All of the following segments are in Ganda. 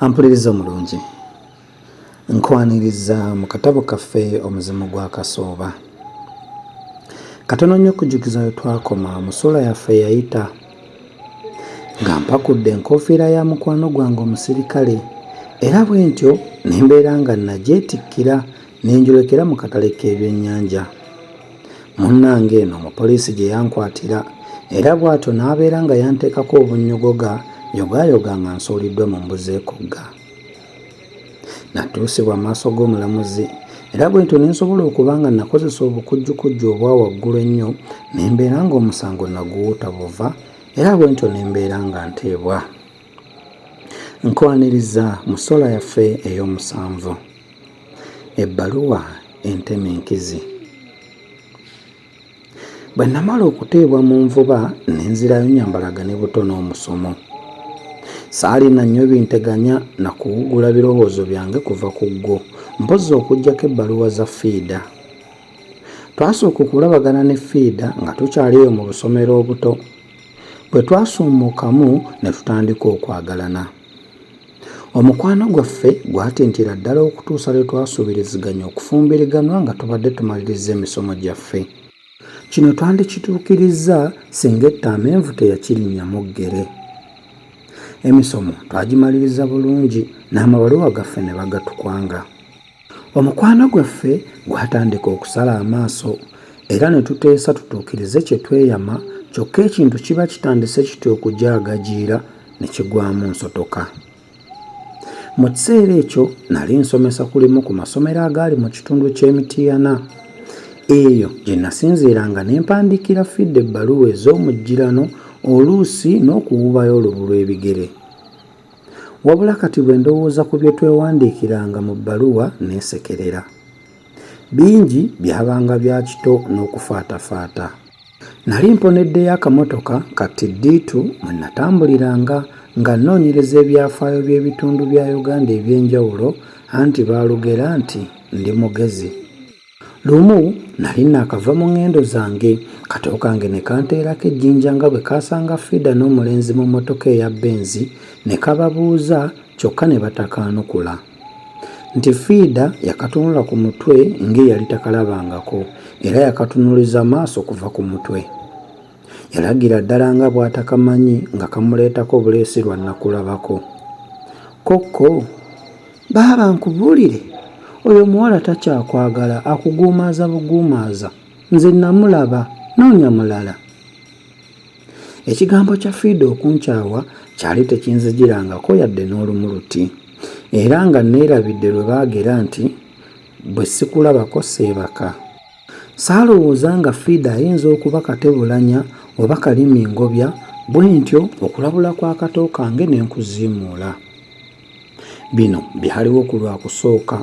ampuliriza omulungi nkwaniriza mu katabo kaffe omuzimu gwa kasooba katono nnyo okujjukiza we twakoma mu suula yaffe yayita nga mpakudde enkofiira ya mukwano gwange omusirikale era bwe ntyo ne mbeera nga nagyetikkira ne njolekera mu katale k'ebyennyanja munnange eno omupoliisi gye yankwatira era bw'atyo n'abeera nga yanteekako obunnyogoga yogaayoga nga nsuuliddwa mu mbuzi ekugga natuusibwa amaaso g'omulamuzi era bwentyo ne nsobola okuba nga nakozesa obukujjukujju obwa waggulu ennyo ne mbeera ng'omusango naguwuta buva era bwentyo ne mbeera nga nteebwa Nkwaniriza mu ssola yaffe ey'omusanvu, ebbaluwa entema enkizi. Bwe namala okuteebwa mu nvuba ne nzirayo nyambalaga ne buto n'omusomo. Saalina nnyo binteganya na kuwugula birowoozo byange kuva ku ggwo, mpozzi okuggyako ebbaluwa za fiida. Twasooka okulabagana ne fiida nga tukyali eyo mu busomero obuto. Bwe twasummukamu ne tutandika okwagalana, omukwano gwaffe gwatintira ddala okutuusa lwe twasuubiriziganya okufumbiriganwa nga tubadde tumalirizza emisomo gyaffe. Kino twandikituukirizza singa etta amenvu teyakirinnya mu ggere. Emisomo twagimaliriza bulungi n'amabaluwa gaffe ne bagatukwanga. Omukwano gwaffe gwatandika okusala amaaso era ne tuteesa tutuukirize kye tweyama kyokka ekintu kiba kitandise kityo okujaagajiira ne kigwamu nsotoka. Mu kiseera ekyo nali nsomesa ku limu ku masomero agaali mu kitundu ky'e Mityana. Eyo gye nasinziiranga ne mpandiikira Fidde ebbaluwa ez'omujjirano oluusi n'okuwuubayo olubu lw'ebigere. Wabula kati bwe ndowooza ku bye twewandiikiranga mu bbaluwa neesekerera. Bingi byabanga bya kito n'okufaatafaata. Nali mponeddeyo akamotoka ka tiddiitu mwe natambuliranga nga nnoonyereza ebyafaayo by'ebitundu bya Uganda eby'enjawulo anti baalugera nti ndi mugezi. Lumu nali naakava mu ŋŋendo zange, kato kange ne kanteerako ejjinja nga bwe kaasanga Frieda n'omulenzi mu mmotoka eya Benzi ne kababuuza kyokka ne batakaanukula nti Frieda yakatunula ku mutwe ng'eyali takalabangako era yakatunuliza maaso kuva ku mutwe. Yalagira ddala nga bw'atakamanyi nga kamuleetako buleesi lwa nnakulabako. Kokko, baaba nkubuulire, oyo omuwala takyakwagala, akuguumaaza buguumaaza. Nze namulaba, noonya mulala. Ekigambo kya Fiida okunkyawa kyali tekinzijirangako yadde n'olumu luti, era nga nneerabidde lwe baagera nti, bwe sikulabako seebaka. Saalowooza nga Frieda ayinza okuba Katebulanya oba Kalimingobya, bwentyo okulabula kwa kato kange ne nkuziimuula. Bino byaliwo ku Lwakusooka.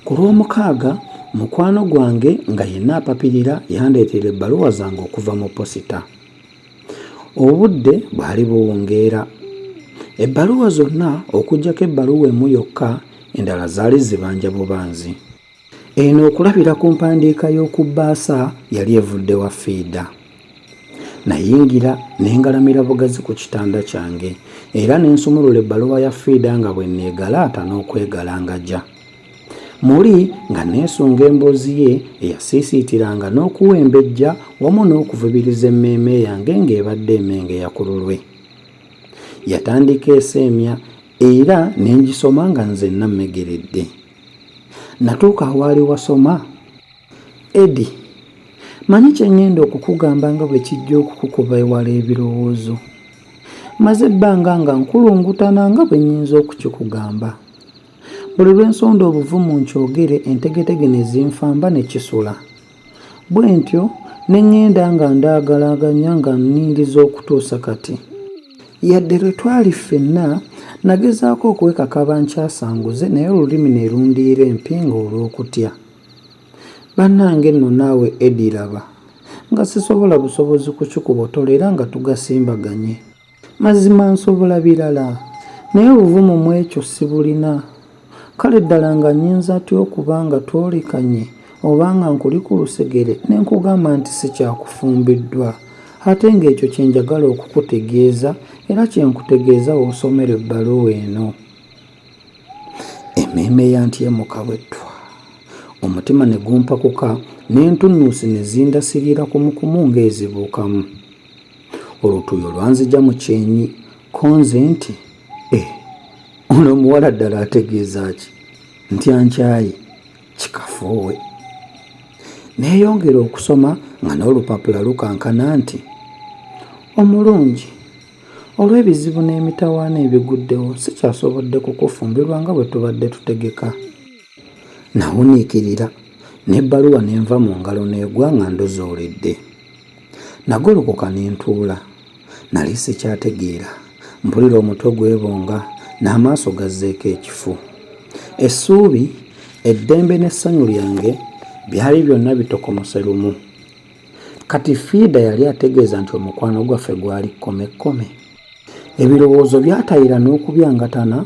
Ku Lwomukaaga, mukwano gwange nga yenna apapirira yandeetera ebbaluwa zange okuva mu posita. Obudde bwali buwungeera. Ebbaluwa zonna okuggyako ebbaluwa emu yokka, endala zaali zibanja bubanzi. Eno okulabira ku mpandiika y'oku bbaasa yali evudde wa fiida. Nayingira ne ngalamira bugazi ku kitanda kyange era ne nsumulula ebbaluwa ya fiida nga bwe neegalaata n'okwegalangaja. Muli nga neesunga emboozi ye eyasiisiitiranga n'okuwembejja wamu n'okuvubiriza emmeeme yange ng'ebadde emengeya ku lulwe. Yatandika eseemya era ne ngisoma nga nzenna mmegeredde. Natuuka awaali wasoma? Eddy, Manyi kye ŋŋenda okukugamba nga bwe kijja okukukuba ewala ebirowoozo. Mmaze ebbanga nga nkulungutana nga bwe nnyinza okukikugamba. Buli lwe nsonda obuvumu nkyogere entegetege ne zinfamba ne kisula. Bwentyo ne ŋŋenda nga ndaagalaaganya nga nnindiza okutuusa kati. Yadde lwe twali ffenna, nnagezaako okwekakaba nkyasanguze naye olulimi ne lundiira empingu olw'okutya. Bannange nno naawe Eddie laba, nga sisobola busobozi kukikubotola era nga tugasimbaganye. Mazima nsobola birala, naye obuvumu mu ekyo sibulina. Kale ddala nga nnyinza ntya okuba nga twolekanye oba nga nkuli ku lusegere ne nkugamba nti si kya kufumbiddwa, ate nga ekyo kye njagala okukutegeeza era kye nkutegeeza w'osomera ebbaluwa eno? Emmeeme yantyemuka bwe ttwa, omutima ne gumpakuka, n'entunnunsi ne zindasirira kumukumu ng'ezibuukamu. olutuuyo lwanzija mu kyenyi konze nti eh, ono omuwala ddala ategeeza ki ntya nkyayi kikafuuwe neeyongera okusoma nga n'olupapula lukankana nti omulungi olw'ebizibu n'emitawaana ebiguddewo sikyasobodde kukufumbirwa nga bwe tubadde tutegeka nawuniikirira n'ebbaluwa ne nva mu ngalo n'egwa nga ndozoolidde Nagolokoka ne ntuula. Nali sikyategeera. Mpulira omutwe gwebonga n'amaaso gazzeeko ekifu. Essuubi, eddembe n'essanyu lyange byali byonna bitokomose lumu. Kati Fiida yali ategeeza nti omukwano gwaffe gwali kkomekkome. Ebirowoozo byatayira n'okubyangatana,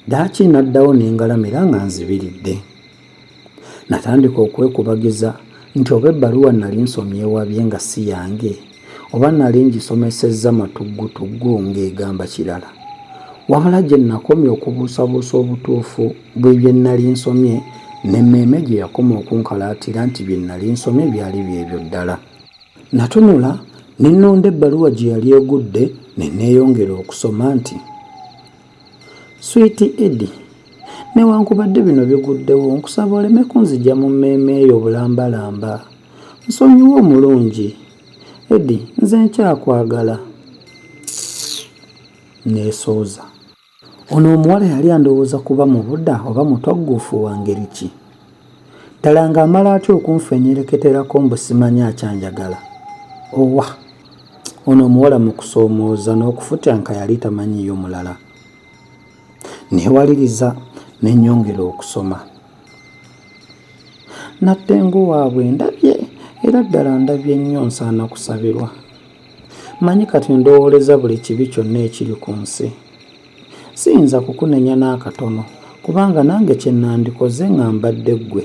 ddaaki naddawo ne ngalamira nga nzibiridde. Natandika okwekubagiza nti oba ebbaluwa nnali nsomye ewabye nga si yange, oba nnali ngisomesezza matuggutuggu ng'egamba kirala. Wabula gye nnakomya okubuusabuusa obutuufu bw'ebye nnali nsomye, n'emmeeme gye yakoma okunkalaatira nti bye nnali nsomye byali by'ebyo ddala. Natunula ne nnonda ebbaluwa gye yali egudde ne nneeyongera okusoma nti. Sweet Eddy, newankubadde bino biguddewo nkusaba oleme kunzigya mu mmeeme yo bulambalamba. Nsonyiwa omulungi. Eddy, nze nkyakwagala. Neesooza. Ono omuwala yali andowooza kuba mubuda oba mutogguufu wa ngeri ki? ddala ng'amala atya okunfenyereketerako mbu simanyi akyanjagala owa ono omuwala mu kusoomooza n'okufutyanka yali tamanyiyo mulala neewaliriza ne nnyongera okusoma natte ng'owaabwe ndabye era ddala ndabye nnyo nsaana kusabirwa manyi kati ndowooleza buli kibi kyonna ekiri ku nsi Siyinza kukunenya n'akatono kubanga nange kye nnandikoze nga mbadde ggwe.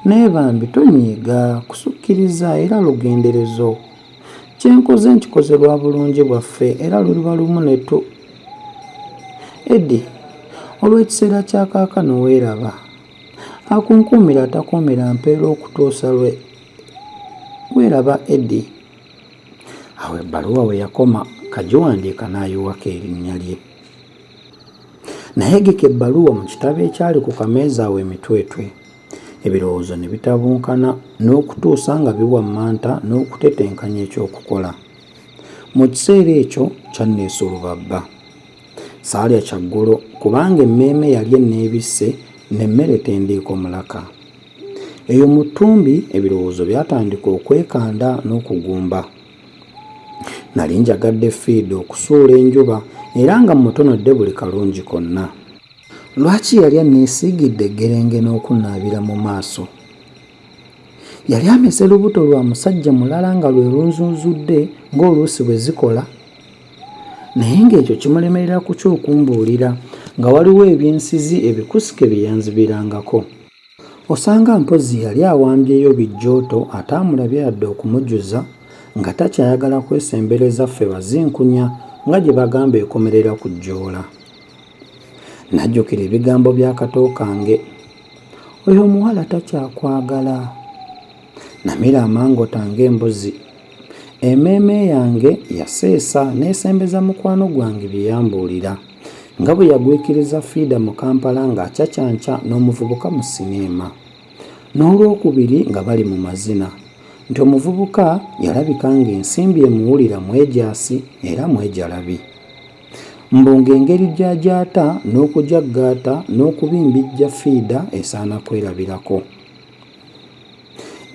Naye bambi tonyiiga, kusukkiriza era lugenderezo. Kye nkoze nkikoze lwa bulungi bwaffe era luliba lumu ne tu. Eddy, olw'ekiseera kya kaakano weeraba. Akunkuumira atakuumira mpeera okutuusa lwe. Weeraba Eddy. awo ebbaluwa we yakoma kagiwandiika n'ayiwako erinnya lye nayegeka ebbaluwa mu kitabo ekyali ku kameeza awo emitwetwe ebirowoozo ne bitabunkana n'okutuusa nga biwammanta n'okutetenkanya ekyokukola mu kiseera ekyo kyanneesa olubabba saalya kyaggulo kubanga emmeeme yali enneebisse n'emmere tendiiko mulaka Eyo mu ttumbi ebirowoozo byatandika okwekanda n'okugumba. Nali njagadde fiida okusuula enjuba era nga mmutonodde buli kalungi konna. Lwaki yali anneesiigidde eggerenge n'okunnaabira mu maaso? Yali ameze lubuto lwa musajja mulala nga lwe lunzunzudde ng'oluusi bwe zikola? Naye ng'ekyo kimulemerera ku ky'okumbuulira nga waliwo ebyensizi ebikusike bye yanzibirangako. Osanga mpozzi yali awambyeyo bijjooto ataamulabye yadde okumujuza nga takyayagala kwesembereza ffe bazinkunya nga gye bagamba ekomerera ku jjoola. Najjukira ebigambo bya kato kange. Oyo omuwala takyakwagala. Namira amangota ng'embuzi. Emmeeme yange yaseesa n'esembeza mukwano gwange bye yambuulira nga bwe yagwikiriza fiida mu Kampala ng'acacanca n'omuvubuka mu sineema n'olwokubiri nga bali mu mazina nti omuvubuka yalabika ng'ensimbi emuwulira mwejaasi era mwejalabi mbu ng'engeri gy'agyata n'okujaggaata n'okubimbijja fiida esaana kwerabirako.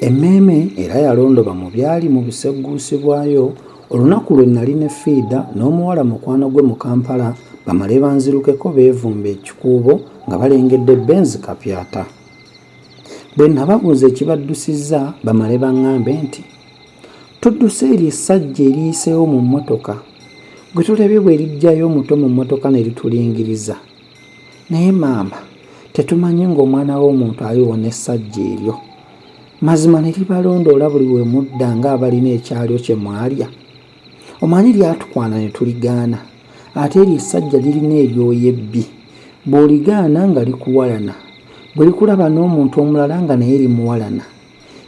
Emmeeme era yalondoba mu byali mu busegguusi bwayo olunaku lwe nnali ne Fiida n'omuwala mukwano gwe mu Kampala bamale banzirukeko beevumbe ekikuubo nga balengedde Benz Kapyata. Bwe nnababuuza ekibaddusizza bamale bang'ambe nti, Tudduse eryo essajja eriyiseewo mu mmotoka gwe tolabye bwe liggyayo omuto mu mmotoka ne litulingiriza? Naye maama, tetumanyi ng'Omwana w'omuntu aliwona essajja eryo? Mazima ne libalondoola buli we mudda ng'abalina ekyalyo kye mwalya. Omanyi lyatukwana ne tuligaana, ate eryo essajja lirina eryoya ebbi. Bw'oligaana nga likuwalana, bwe likulaba n'omuntu omulala nga naye limuwalana.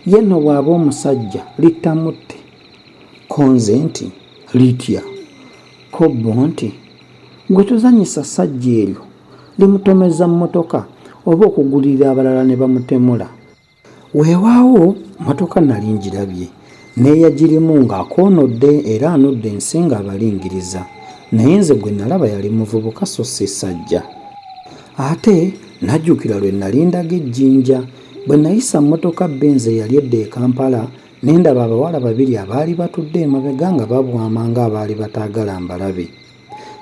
Ye nno bw'aba omusajja, litta mutte. Ko nze nti, Litya? Ko bo nti, Gwe tozanyisa sajja eryo limutomeza motoka oba okugulirira abalala nebamutemula. Wewawo motoka nali njirabye neyajirimu nga akonodde era anodde ensi nga abalingiriza naye nze gwe nalaba yali muvubuka so si sajja ate najukira lwe nali ndaga ejinja bwe nayisa motoka benz eyali edda e Kampala Ne ndaba abawala babiri abaali batudde emabega nga babwama ng'abaali bataagala mbalabe.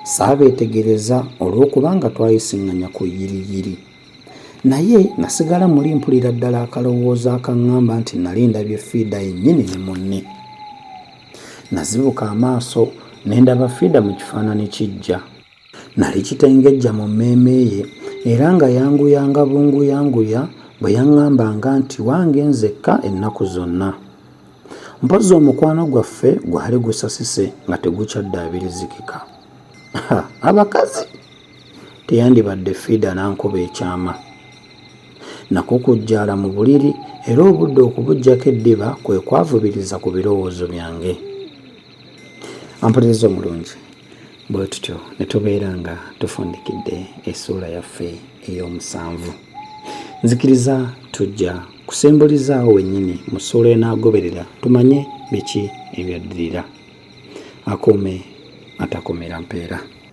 Saabeetegereza olw'okubanga twayisiŋŋanya ku yiriyiri. Naye nasigala muli mpulira ddala akalowoozo akaŋŋamba nti nali ndabye Fiida yennyini ne munne. Nazibuka amaaso ne ndaba Fiida mu kifaanani kijja. Nali kitengejja mu mmeeme ye, era nga yanguyanga bunguyanguya bwe yaŋŋambanga nti wange nzekka ennaku zonna. Mpozzi omukwano gwaffe gwali gusasise nga tegukyaddaabirizikika. Ha, abakazi! Teyandibadde Fiida n'ankuba ekyama. Nakukujjaala mu buliri era obudde okubuggyako eddiba kwe kwavubiriza ku birowoozo byange. ampuliriza omulungi bwe tutyo ne tubeera nga tufundikidde essuula yaffe ey'omusanvu nzikiriza tujja kusembulizaawo wennyini mu ssuula enaagoberera tumanye biki ebyaddirira akuume atakumira mpeera